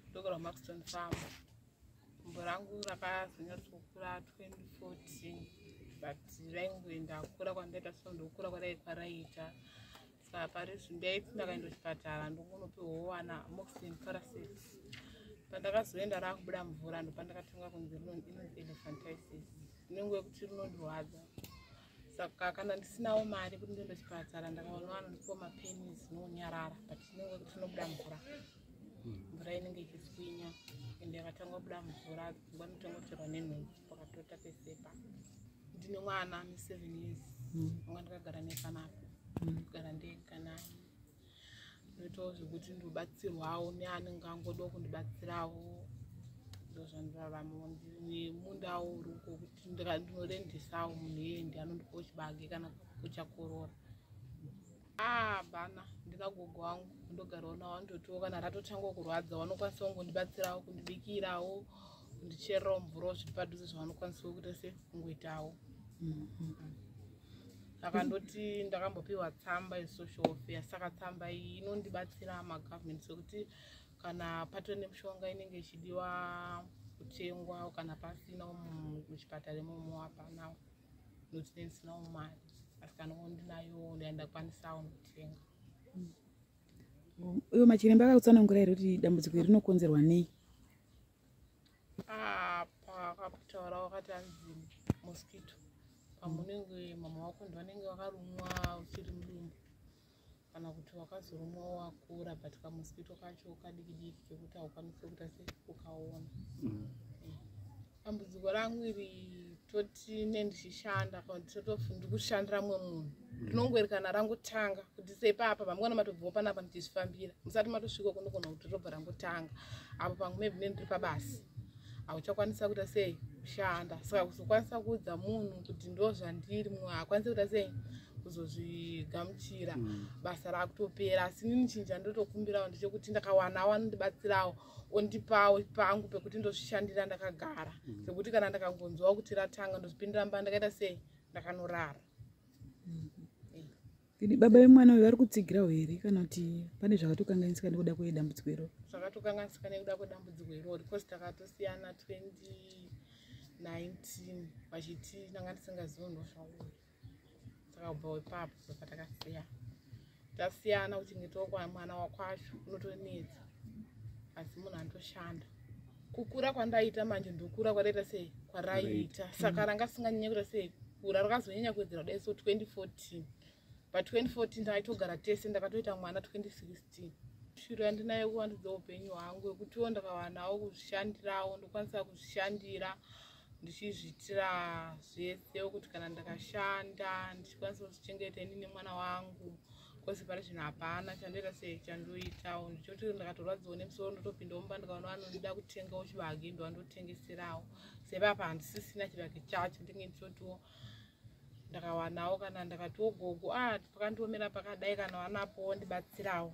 ndokorwa maxton farm gumbo rangu rakazonyatsokura 2014 but raingoenda kukura kwandaita so ndokukura kwadai kwaraita saka pari zvinhu ndaiti ndakaenda kuchipatara ndongonopiwawo wana moxin parasit pandakazoenda rakubuda mvura ndopandakatanga kunzi rinonzi elephantisis inenge yekuti rinondirwadza saka kana ndisinawo mari kuti ndiende chipatara ndakaona vanhu ndiko mapeni zinonyarara but inenge kuti inobuda mvura mvura inenge ichiswinya ende yakatanga kubuda mvura dzingwa nditonotorwa nenhunzi pakatota pesepa ndine mwana ane seven years anga ndakagara nepanapa kugara ndega naye ndoitawo zvekuti ndobatsirwawo neanenge angodawo kundibatsirawo ndozvandiraramawo nemundawo uri uko kuti ndinorendesawo munhu iyeye ndi anondipawo chibage kana kuchakorora abana ah, ndina gogo wangu ndogarawo nawo andotiwo kana ratotanga kurwadza vanokwanisa kungondibatsirawo kundibikirawo kundichererawo mvurawo zviri padhuze zvavanokwanisa kuita se kungoitawo mm -hmm. akandoti ndakambopiwa tsamba yesocial welfare saka tsamba iyi inondibatsira magovernment sekuti kana patove nemishonga inenge ichidiwa kutengwa kana pasina muchipatara imomo hapanawo nokuti nendisinawo mari asi kana ondinayo ndandakwanisao kutenga uyo machiremba akakutsanangura here kuti dambudziko iri rinokonzerwa nei apa akakutaura wakati anzi mosquito pamunenge mama wako ndi vanenge vakarumwa uchiri mudumbu kana kuti wakazorumwa wakura but kamosquito kacho kadikidiki kekuti haukwanisi kuita se ukaona mm. dambudziko rangu iri toti ne ndichishanda paototof ndikushandira mumwe munhu rinongoerekana rangotanga kuti seipapa vamwana matobvawo panapa ndichizvifambira musati matosvika kunogona kuti robva rangotanga apo pamwe maybe ne ndiri pabasa hauchakwanisa kuita sei kushanda saka kuzokwanisa kuudza munhu kuti ndo zvandiri mumwe haakwanisi kuita sei kuzozvigamuchira mm. basa rakutopera asi nini chinja ndotokumbirawo ndechekuti ndakawana wanondibatsirawo ondipawo pangu pekuti ndozvishandira ndakagara mm. pekuti kana ndakangonzwawo kuti ratanga ndozvipindira mba ndakaita sei ndakanorara Kidi mm-hmm. baba vemwana uyu vari kutsigirawo here kana kuti pane zvakatokanganisika nekuda kwedambudziko iroro zvakatokanganisika nekuda kwedambudziko iroro because takatosiyana 2019 vachiti ndanga ndisingazivo nosvauya takabvawo ipapo saka takasiya tasiyana kuchengetawo kwamwana wakwacho unotonetsa asi munhu anotoshanda kukura kwandaita manje ndokura kwadaita sei kwaraiita saka mm. ranga singanyanya kuita sei kura rakazonyanya kuwedzera kudai so 2014 pa 2014 taitogara tese ndakatoita mwana 2016 shiro yandinayo kuvandudza upenyu hwangu wekutiwo ndakavanawo kuzvishandirawo ndokwanisa kuzvishandira ndichizviitira zvese kuti kana ndakashanda ndichikwanisa kuzvichengeta ini nemwana wangu kwese pari zvinhu hapana chandoita sei chandoitawo ndichoti ndakatorwadziwo nemusoro ndotopinda omba ndikaona vanoda kutengawo chibage ndova ndotengeserawo sepapa handisisina chibage chacho ndinge ndichotiwo ndakawanawo kana ndakatiwo gogo a ah, pakandiomera pakadai kana wanapowo ndibatsirawo